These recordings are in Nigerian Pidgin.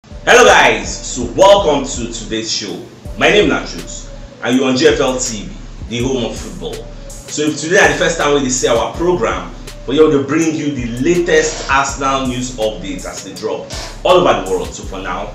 Hello guys, so welcome to today's show. My name na Truth and you on GFL TV, the home of football. So if today na the first time wey dey see our program, we here to bring you the latest Arsenal news updates as they drop all over the world. So for now,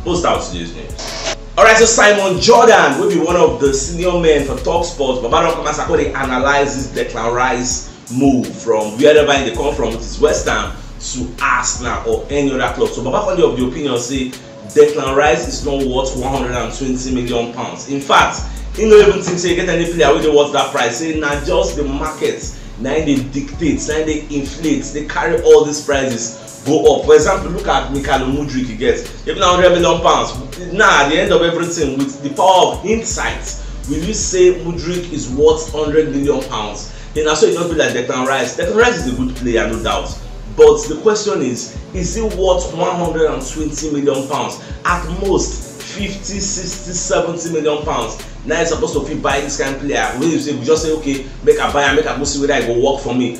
we'll start with today's news. Alright, so Simon Jordan will be one of the senior men for Talksport. Baba Rock Masako, they analyze this Declan Rice move from wherever im dey come from which is west ham to arsenal or any other club so baba conde of the opinion say declan rice is not worth 120 million pounds in fact he no even think say e get any player wey dey worth that price say na just the market na im dey dictate na im dey inflate dey carry all these prices go up for example look at mikhail mudrik he get even na hundred million pounds now at the end of everything with the power of hindsight will you say mudrik is worth hundred million pounds then na so e just be like declan rice declan rice is a good player no doubt but the question is is he worth one hundred and twenty million pounds at most fifty sixty seventy million pounds na you suppose to fit buy this kind of player wey you say you just say okay make i buy am make i go see whether e go work for me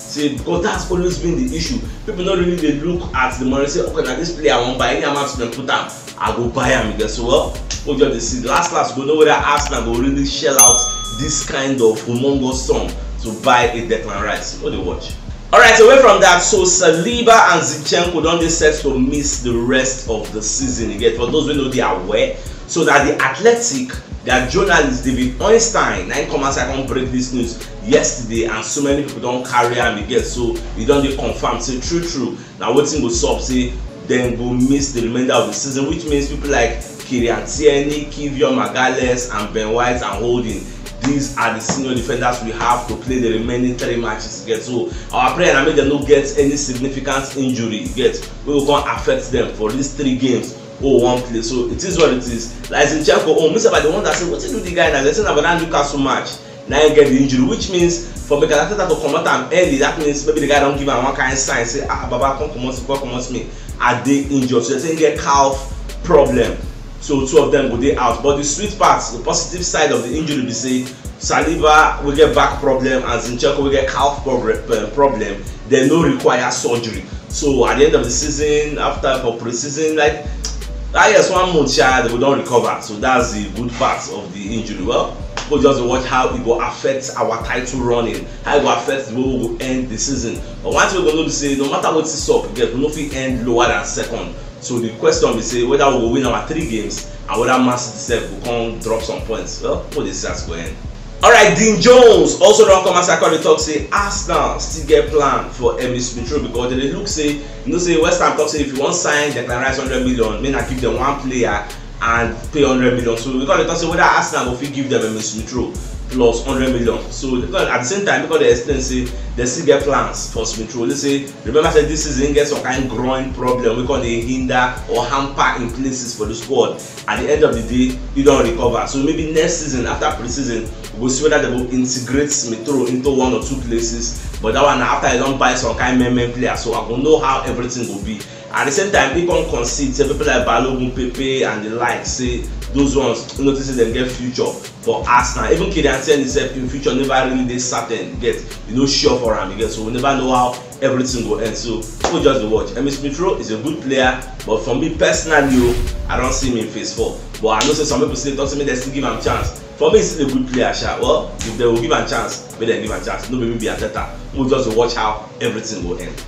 Say because that's always been the issue, people no really dey look at the money say okay na this player I wan buy, any amount dem put am I go buy am again so well we just dey see last last we go know whether Arsenal go really shell out this kind of humongous sum to buy a Declan Rice, no dey watch. Alright away from that so Saliba and Zinchenko don dey set to miss the rest of the season again for those wey no dey aware so na the Athletic their journalist David Ornstein na him come outside come break this news yesterday and so many people don carry am again so e don dey confirmed say true true na wetin go sup say dem go miss the remainder of the season which means people like Kylian Tierney, Kivio Magales and Ben White and Holding these are the senior defenders we have to play the remaining three matches get so our prayer na make dem no get any significant injury get wey go come affect them for these three games oh one play so it is what it is like zinchenko own oh, me sef i dey wonder say wetin do the guy na dem say na for that newcastle match na im get the injury which means for Mikel Arteta to comot am early that means maybe the guy don give am one kind sign say ah baba come comot me come comot me I dey injured so they say he get calf problem so two of them go dey out but the sweet part the positive side of the injury be say Saliba wey get back problem and Zinchenko wey get calf eh, problem dem no require surgery so at the end of the season after for pre-season like ah yes one month sha they go don recover so that's the good part of the injury? Well, people just watch how it will affect our title running, how it will affect the way we will end the season. But one thing we know be say no matter what is up, we get we no fit end lower than second. So the question be say whether we go win our three games and whether Man City sef go come drop some points. Well, people dey see as e go end. Alright, Dean Jones also don come outside come dey talk say Arsenal still get plan for Emile Smith Rowe because dem dey look say you know say West Ham talk say if you wan sign Declan Rice hundred million make na give dem one player and pay hundred million so we come dey talk say whether arsenal go fit give them emin smith rowe plus hundred million so at the same time we come dey explain say they still get plans for smith rowe say remember say this season he get some kind groin problem wey come dey hinder or hamper in places for the squad at the end of the day he don recover so maybe next season after pre-season we go see whether they go integrate smith rowe into one or two places but that one na after he don buy some kind men men player so i go know how everything go be At di same time, im come concede say pipo like Balogun, Pepe and di like say those ones im notice say dem get future for Arsenal. Even Kylian Tierney sef im future neva really dey certain yet, e no sure for am yet so we neva know how everytin go end so pipo just dey watch. Emile Smith Rowe is a good player but for me personally o, I don see im in phase four but I know say some pipo still dey tok say make dem still give am chance. For me e still a good player sha, well if dem go give am chance. make dem give am chance no be me be ateta mo just dey watch how everything go end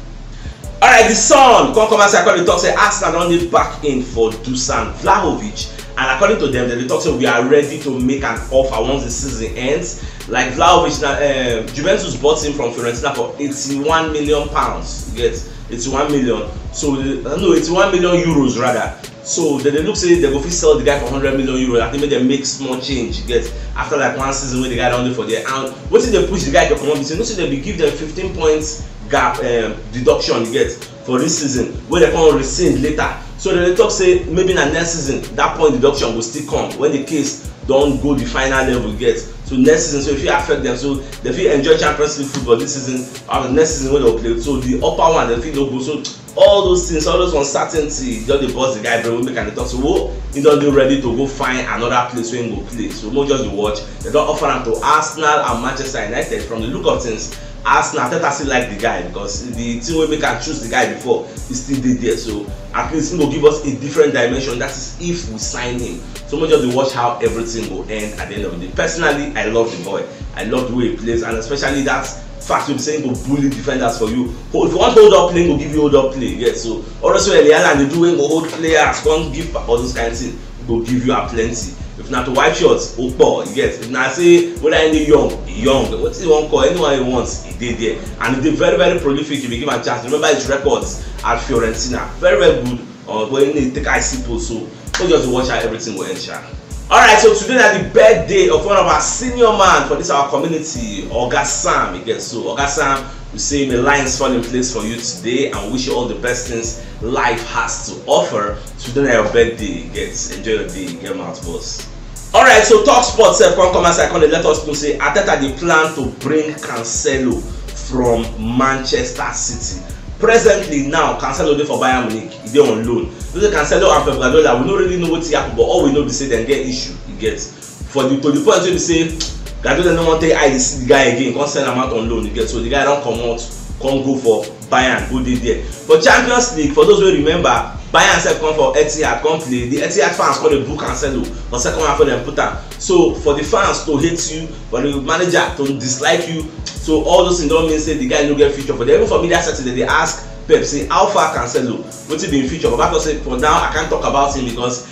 alright the son come come outside come dey talk say arsenal don need back in for dusan vlahovic and according to them dem dey talk say we are ready to make an offer once the season ends like vlahovic na um, juventus bought him from fiorentina for 81 million pounds you get 81 million so uh, no 81 million euros rather so dem dey look say dem go fit sell the guy for hundred million euro i think make dem make small change get after like one season wey the guy don dey for there and wetin dey push the guy to comot be say no say dem be give dem fifteen points gap um, deduction you get for this season wey dem come rescind later so dem dey talk say maybe na next season that point deduction go still come when the case don go the final level you get so next season so e fit affect them so dem fit enjoy champions league football this season and next season wey dem go play so the upper one dem fit no go so all those things all those uncertainty just dey burst the guy brain wey make am dey talk say wo he don dey ready to go find another place wey he go play so mo just dey watch dem don offer am to arsenal and manchester united from the look of things arsenal arteta still like the guy because the thing wey make am choose the guy before he still dey there so at least he go give us a different dimension that is if we sign him so mo just dey watch how everything go end at the end of the day personally i love the boy i love the way he plays and especially that fact wey be say he go bully defenders for you If you want hold up play, go give you hold up play. Yes, so always when Eliana dey do when go hold players, come give all those kind of things, go give you a plenty. If na to wipe shots, opo, you get. If na say whether any young, young, wetin you wan call anyone you want, e dey there. And e dey very very prolific if you give am chance. Remember his records at Fiorentina, very very good. Oh boy, you need to take I see post so. So just watch how everything will end, sha. Alright, so today na the birthday of one of our senior man for this our community, Oga Sam. You get so Oga Sam, we say may lines fall in place for you today and wish you all the best things life has to offer. Today na your birthday, you get enjoy your day, get mouth boss. Alright, so talk sport sef come come outside come dey let us know say Arteta dey plan to bring Cancelo from Manchester City. Presently now, Cancelo dey for Bayern Munich, e dey on loan. You know Cancelo and Pep Guardiola, we no really know wetin happen but all we know be say dem get issue, you get. For the to the point wey be say Guardiola no wan take eye dey see the guy again, come send am out on loan, you get. So the guy don comot, come go for Bayern who dey there for Champions League for those wey remember Bayern sef come for Etihad come play the Etihad fans come dey boo Cancelo for second half wey dem put am so for the fans to hate you for the manager to dislike you so all those things don mean say the guy no get future for there even for media setting dem dey ask Pep say how far Cancelo wetin be him future Baba talk say for now I can't talk about him because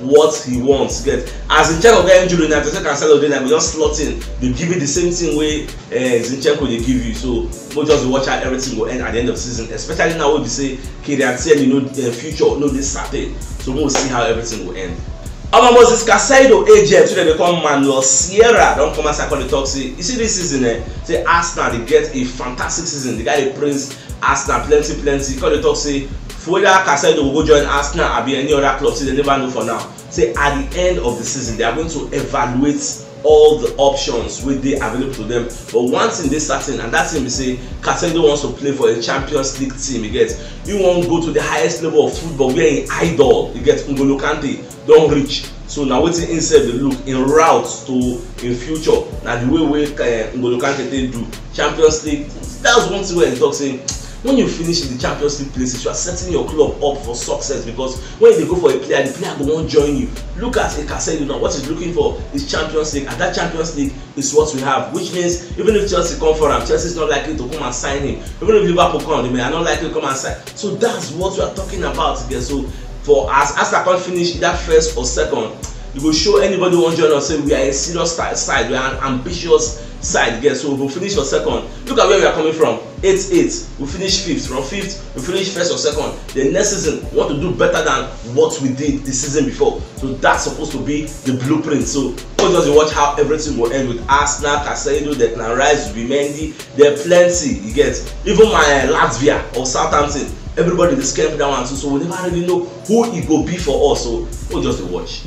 what he wants get as zinchenko get injury na person cancelo dey na go just slot in dey give you the same thing wey uh, zinchenko dey give you so mo just dey watch how everything go end at the end of the season especially now wey be say kylian tierney no uh, future no dey certain so mo see how everything go end. omo moses casado agent wey dem dey call manuel sierra don come outside come dey talk say you see this season eh say arsenal dey get a fantastic season the guy dey praise Arsenal plenty plenty, come dey talk say for whether Caicedo go go join Arsenal abi any other club say they never know for now. Say at the end of the season, they are going to evaluate all the options wey dey available to them. But one thing dey certain and that thing be say Caicedo wants to play for a Champions League team, you get? He wan go to the highest level of football where him idol, you get, N'Golo Kante don reach so na wetin im sef dey look im route to im future na the way wey eh, N'Golo Kante take do Champions League that's one thing wey I talk say when you finish in the Champions League places you are setting your club up for success because when you dey go for a player the player go wan join you look at a Casemiro now what he's looking for is Champions League and that Champions League is what we have which means even if Chelsea come for am Chelsea is not likely to come and sign him even if Liverpool come they may are not likely to come and sign so that's what we are talking about again so for as Arsenal come finish either first or second you go show anybody wan join us say we are a serious side we are an ambitious side get so we go finish for second look at where we are coming from eight eight we finish fifth from fifth we finish first or second the next season we want to do better than what we did the season before so that's supposed to be the blueprint so go just dey watch how everything go end with arsenal casado declan rice zubimendi There plenty, you get. Even my uh, Latvia or Southampton, everybody dey scare me that one too. So we never really know who e go be for us. So we'll just dey watch.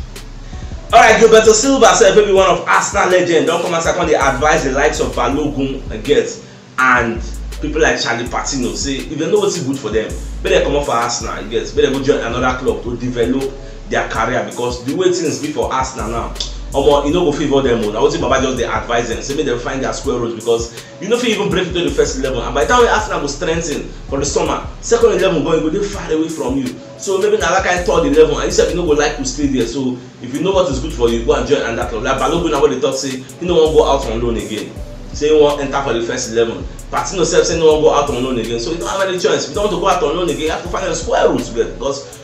Alright, Gilberto Silva sef wey be one of Arsenal legend don come outside come dey advise the likes of Balogun get and people like Charlie Patino say if dem know wetin good for them, make dem comot for Arsenal get, make dem go join another club to develop their career because the way things be for Arsenal now, omo e no go favour them o. Na wetin Baba just dey advise them say make dem find their square root because you no fit even break into the first eleven and by the time wey Arsenal go strengthen for the summer, second eleven gan e go dey far away from you. So maybe na that kind third eleven and you sef you no go like to stay there so if you know what is good for you go and join another club like Balogun now wey dey talk say he no wan go out on loan again say he wan enter for the first eleven. Patino sef say he no wan go out on loan again so you don't have any choice if you don't want to go out on loan again you have to find a square root there because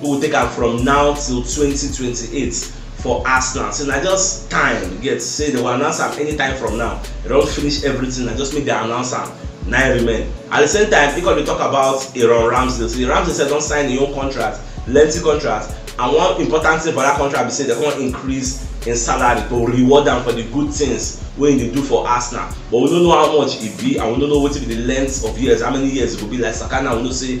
wey go take am from now till twenty twenty eight for arsenal so na just time you get say dem go announce am anytime from now dem don finish everything na just make dem announce am na im remain at the same time e come dey talk about aaron ramsdale say ramsdale sef don sign im own contract lengthy contract and one important thing for that contract be say dem come increase im salary to reward am for the good things wey im dey do for arsenal but we no know how much e be and we no know wetin be the length of years how many years e go be like saka now we know say